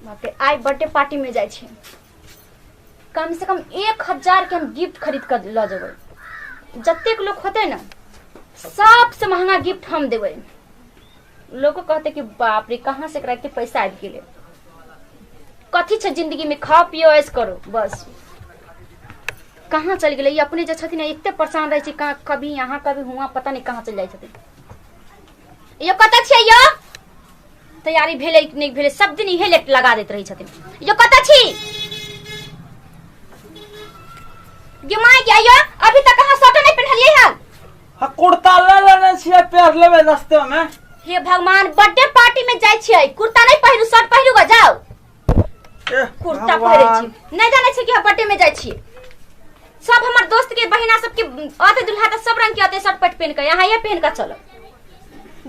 बाप रे आइ बर्थडे पार्टी में जाइ छी कम से कम एक हजार के हम गिफ्ट खरीद कर लऽ जेबै जतेक लोग होते ना सबसे महंगा गिफ्ट हम देबै लोगो कहते कि बाप रे कहाँ से एकरा एते पैसा आबि गेलै कथी छै जिंदगी में खाओ पियो ऐस करो बस कहाँ चलि गेलै ई अपने जे छथिन एते परेशान रहै छै कहाँ कभी यहाँ कभी हुआँ पता नहि कहाँ चलि जाइ छथिन यो कतऽ छियै यो तैयारी भेलै कि नहि भेलै सब दिन इहे लेट लगा दैत रहै छथिन यो कतऽ छी गे माय गे आइयो अभी तक अहाँ स्वेटर नहि पहिनलियै हन आ कुर्ता ले लेने छियै पैर लेबै रस्ते में हे भगवान बर्थडे पार्टी में जाइ छियै कुर्ता नहि पहिरू शर्ट पहिरू ग जाओ कुर्ता पहिरे छी नहीं जाने छी कि हम पट्टे में जाय छी सब हमर दोस्त के बहिना सब के आते दुल्हा त सब रंग के आते शर्ट पट पहन के यहाँ ये पहन के चलो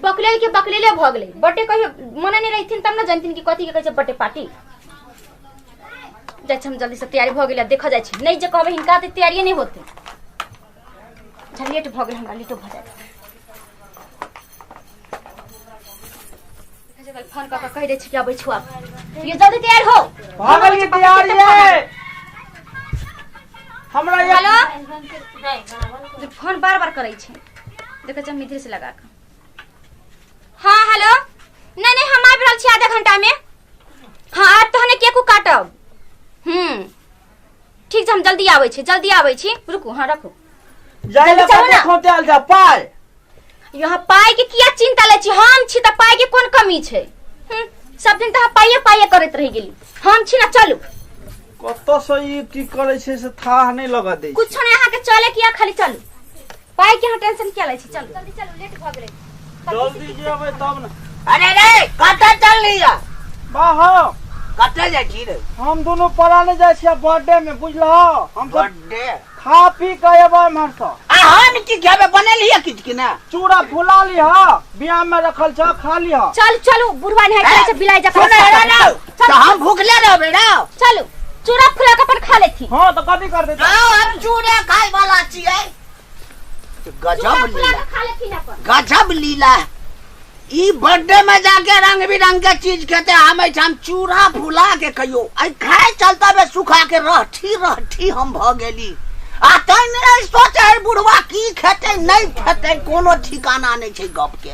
बकलेल के बकलेले भ गेले बटे कहियो मने नहीं रहथिन तब ना जानथिन कि कथी के कहै छै बटे पार्टी जाय छी हम जल्दी से तैयारी भ गेले देखा जाय छी नहीं जे कहबे हिनका ते तैयारी नहीं होते झलेट भ गेल हमरा लेटो भ जाय फोन कऽ कऽ कहि दै छी कि अबै छौ आब ये जल्दी तैयार हो भागल के तैयार ये हमरा ये हेलो जे फोन बार बार करै छै देखै छै मित्र से लगा कऽ हाँ हेलो नहीं नहीं हम आबि रहल छी आधा घंटा में हाँ आज तहने केकू काटब हम्म ठीक छै हम जल्दी आबै छी जल्दी आबै छी रुकू हाँ रखू जाय ले चलू ने। खोटे आल जा पाय यहाँ पाई के किया चिंता ले छी हम छी त पाई के कोन कमी छै हम्म, सब दिन त अहाँ पाइए पाइए करैत रह गेली हम छी ना चलू कत से ई की करे छै से थाह नहीं लगा दे कुछ नहीं अहाँ के चले किया खाली चलू पाई के हम टेंशन क्या ले छी चल जल्दी चल लेट भ गेले जल्दी जेबै तब ने अरे रे कतऽ चल लिया बाहो कतऽ जाइ छी रे हम दुनू पराने जाइ छियै बर्थडे में बुझलहो हम सब बर्थडे खा पी के एबै एम्हर से आ हम की खेबै बनल हिय किछु कि ना चूड़ा फुला लिह बियाह में रखल छ खा लिह चल चल बुढ़वा नहीं करे से बिलाई जा सुन रे रे तो हम भूखले रहबे ना चलो चूड़ा फुला के अपन खा लेती हां तो कभी कर देता आओ हम चूड़ा खाए वाला छिए चूड़ा गजब फुला लीला के खा लेती ना अपन गजब लीला ई बर्थडे में जाके रंग बिरंग के चीज खेते हम हम चूड़ा फुला के कहियो आई खाए चलता बे सुखा के रहठी रहठी हम भ गेली आ तै नहीं सोचे है बुढ़वा की खेते नहीं खेते कोनो ठिकाना नहीं छै गप के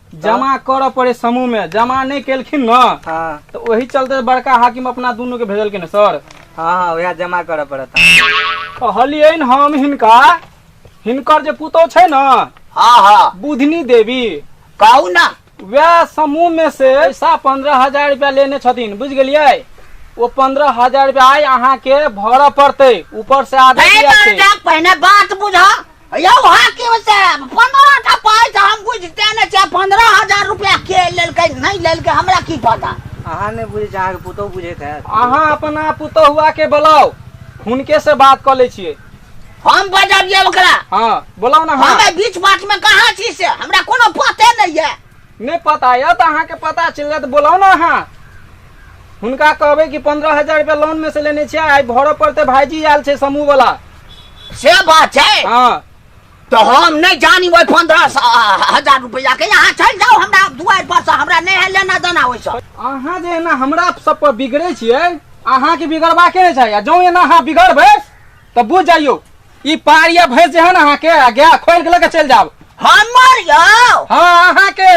जमा करऽ पड़े समूह में जमा नहीं केलखिन न हाँ तो वही चलते बड़का हाकिम अपना दोनों के भेजलखिन सर हाँ हाँ वह जमा करऽ पड़त कहलिए न हम हिनका हिनकर जे पुतौ छै न हाँ हाँ बुधनी देवी कहू ना वह समूह में से पैसा पंद्रह हजार रुपया लेने छथिन बुझ गेलिए वो पंद्रह हजार रुपया आय अहाँ के भरऽ पड़ते ऊपर से आदेश आयल छै पहिने बात बुझा यौ हाँ की होइ छै पंद्रह टा पाइ तऽ हम बुझते ने छै पंद्रह हजार रुपया के लेलकै नहि लेलकै हमरा की पता अहाँ नहि बुझै छै अहाँके पुतहु बुझैत हैत अहाँ अपना पुतहुआ के बोलाउ हुनके से बात कऽ लै छियै हम बजबियै ओकरा हँ बोलाउ ने हँ हमे बीच बात में कहाँ छी से हमरा कोनो पते नहि है नहि पता यऽ तऽ अहाँके पता चलि जायत बोलाउ ने अहाँ हुनका कहबै कि पंद्रह हजार रुपया लोन में से लेने छियै आइ भरऽ पड़तै भाईजी आयल छै समूह वाला से बात छै हाँ तऽ हम नहि जानी ओहि पंद्रह हजार रुपैआ के अहाँ चलि जाउ हमरा दुआरि पर से हमरा नहि है लेना देना ओहिसँ अहाँ जे एना हमरा सब पर बिगड़े छियै अहाँके बिगड़बाके नहि चाही आ जौं एना अहाँ बिगड़बै तो बुझ जाइयो ई पार या भैंस जे है ना अहाँ के आ गया खोल के लेके चल जाओ हमर यौ हाँ अहाँ के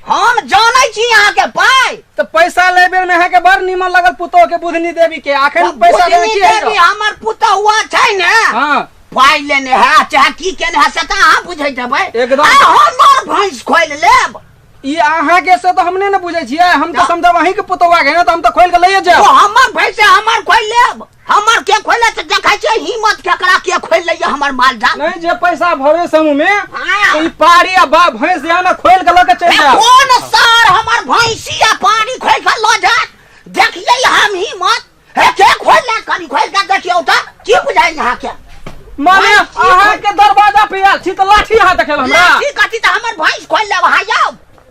हम जानै छी अहाँ के पाइ तो पैसा ले बेर में अहाँ के बड़ नीमन लगल पुतोह के बुधनी देवी के आखिर पैसा दे बुझनी की है देवी हमर पुतहुआ छै ने हाँ पाइ लेने है चाहे की केने है से तऽ अहाँ बुझैत हेबै एकदम। आ हमर भैंस खोल लेब ई अहाँ के से तो हमने ने बुझे छियै हम तो समझब अहीं के पुतोह के ना तो हम तो खोल के ले ओ जाओ हमर भैंस हमर खोल लेब हमर के खोले तऽ देखै छियै हिम्मत केकरा के खोलि लैए हमर मालजाल नहीं जे पैसा भरे समूह में हाँ। तो ई पारी आ बा भैंस यहाँ ना खोल के लगे चल जाओ कोन सार हमर भैंसी आ पानी खोलि कऽ लऽ जायत देखियै हम हिम्मत हे के खोलि लैत कनि खोलि कऽ देखियौ तऽ की बुझाइ अहाँके माने भैंसी अहाँ के दरवाजा पे आयल छी तो लाठी हाथ देखेल हमरा लाठी कथी तऽ हमर भैंस खोलि लेब अहाँ यौ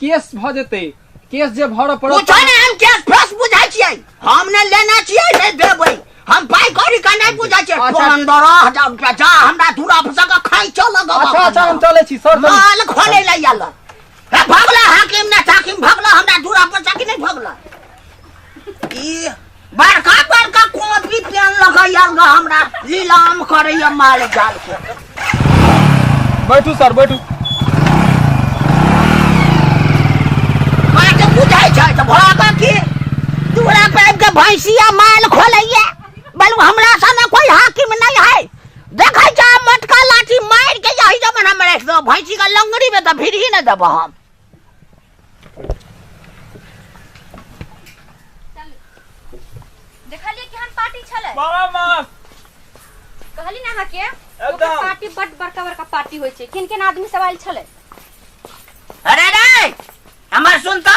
केस भऽ जेतै केस जे भरऽ पड़त पूछो ने हम केस फेस बुझै छियै हम ने लेने छियै ने देबै हम पाइ कौड़ी का नहि बुझै छियै अच्छा। पंद्रह हजार रुपया जा हमरा दूरा पर से खाइ चल गवा अच्छा अच्छा हम चलै छी सर चलू। माल खोले ला याला हे भगला हाकिम ने ताकिम भगला हमरा दूरा पर से कि नहि भगला ई बड़का बड़का कॉपी पेन लगैया हमरा लीलाम करैया माल जाल के बैठू सर बैठू माँ के बुझाइ छै तऽ भोला का की दूरा पे आबि के भैंसिया माल खोलैया बलू हमरा सने कोई हाकिम नहीं है देखै छा मोटका लाठी मारि के यही जमन हम राखि दो भैंसी का लंगड़ी में तऽ फिर ही न देबो हम देखलिए केहन पार्टी छले मामा मामा कहली ना अहाँ के ओकर एकदम। पार्टी बड बड़का बड़का पार्टी होय छै किन किन आदमी सब आयल छले अरे रे हमर सुन तो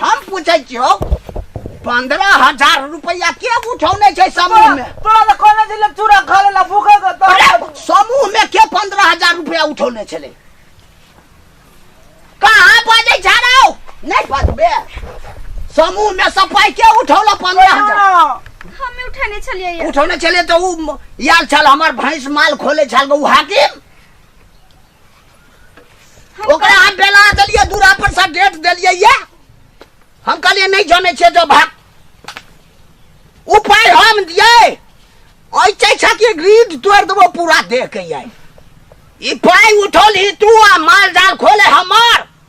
हम पूछै छियौ पंद्रह हजार रुपया के उठौने छै समूह में तोरा तऽ कहने छलै चूड़ा खा लेला भूखल तऽ तोरा अरे समूह में के पंद्रह हजार रुपया उठौने छलै कहाँ बाजै छ रौ नहि बाजबे समूह में से पाइ के उठौला पंद्रह हजार हम उठेने छलियै ये। उठौने छलै तऽ उ याल छल हमर भैंस माल खोले छल उ हाकिम ओकरा हम बेला देलियै दूरा पर से डेट देलियै ये हम कहलियै नहीं जाने छे जो भाग उपाय हम दियै ऐसे छै कि ग्रीड तोड़ देबो पूरा देह के ये ई पाय उठौली तू आ माल जाल खोले हमर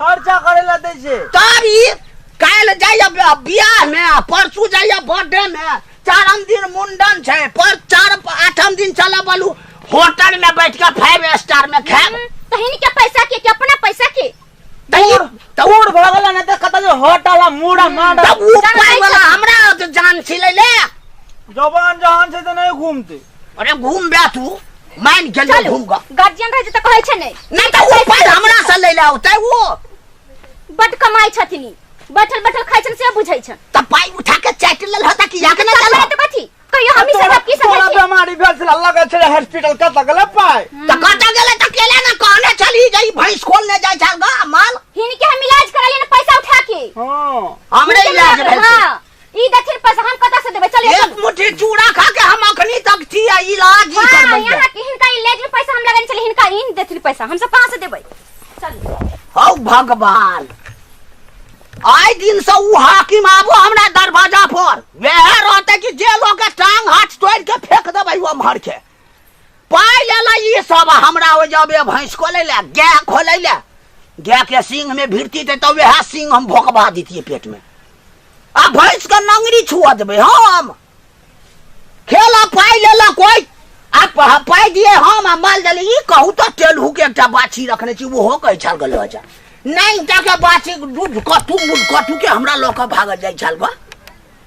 खर्चा करे ला दे छे तब ई काल्हि जाइए बि- बियाह में आ परसू जाइए बर्थडे में चारम दिन मुंडन छै पर चार आठम दिन चलऽ बोलू होटल में बैठ के फाइव स्टार में खाएब तहिन के पैसा के के अपना पैसा के तोर तोर भगला न त कत जो हटाला मुड़ा मांडा तब ऊ पाई वाला हमरा जान छिलै ले जवान जहान से तो नहीं घूमते अरे घूम बे तू मान गेल चलू घूम गा गार्जियन रहे त कहै छै नै नहीं तो वो पर हमरा से ले ले होते वो बड कमाई छथिन ई। बैठल बैठल खाइ छन से बुझै छन तब पाई उठा के चाट ले होता कि याद ना चल त कथी कहियो हम ई सब की सब तोरा बीमारी भेल छला लगे छले हॉस्पिटल कत गेले पाय तो कत गेले तो केले ना कहने चली गई भैंस खोल ने जाय छल गा माल हिन के हम इलाज करा लेने पैसा उठा के हां हमरे इलाज भेल छै। हां ई देखिए पैसा हम कतऽ से देबै चलिए एक मुट्ठी चूड़ा खा के हम अखनी तक छी आ इलाज ही हाँ, करबै यहाँ के हिनका ई लेज में पैसा हम लगन चली हिनका इन देथिन पैसा हम सब कहाँ से देबै चल हौ भगवान आइ दिन से उ हाकिम आबो हमरा दरवाजा पर वएह रहते कि जे लोग के टांग हाथ तोड़ के फेंक देबै वो मर के पाइ लेला ई सब आ हमरा ओ जबे भैंस खोलै ले गाय खोलै ले गाय के सिंह में भिड़ती ते तब वएह सिंह हम भोकबा देतियै पेट में आ भैंस के नंगरी छुआ देबै हम खेला पाइ लेला कोइ आ प- पाइ दिए हम आ माल देली ई कहू तऽ टेलहू के एकटा बाछी रखने छी ओहो कहै छाल गल जा नहि टा के बाछी दूध कटू मूल कटू के हमरा लऽ कऽ भागल जाइ छाल बा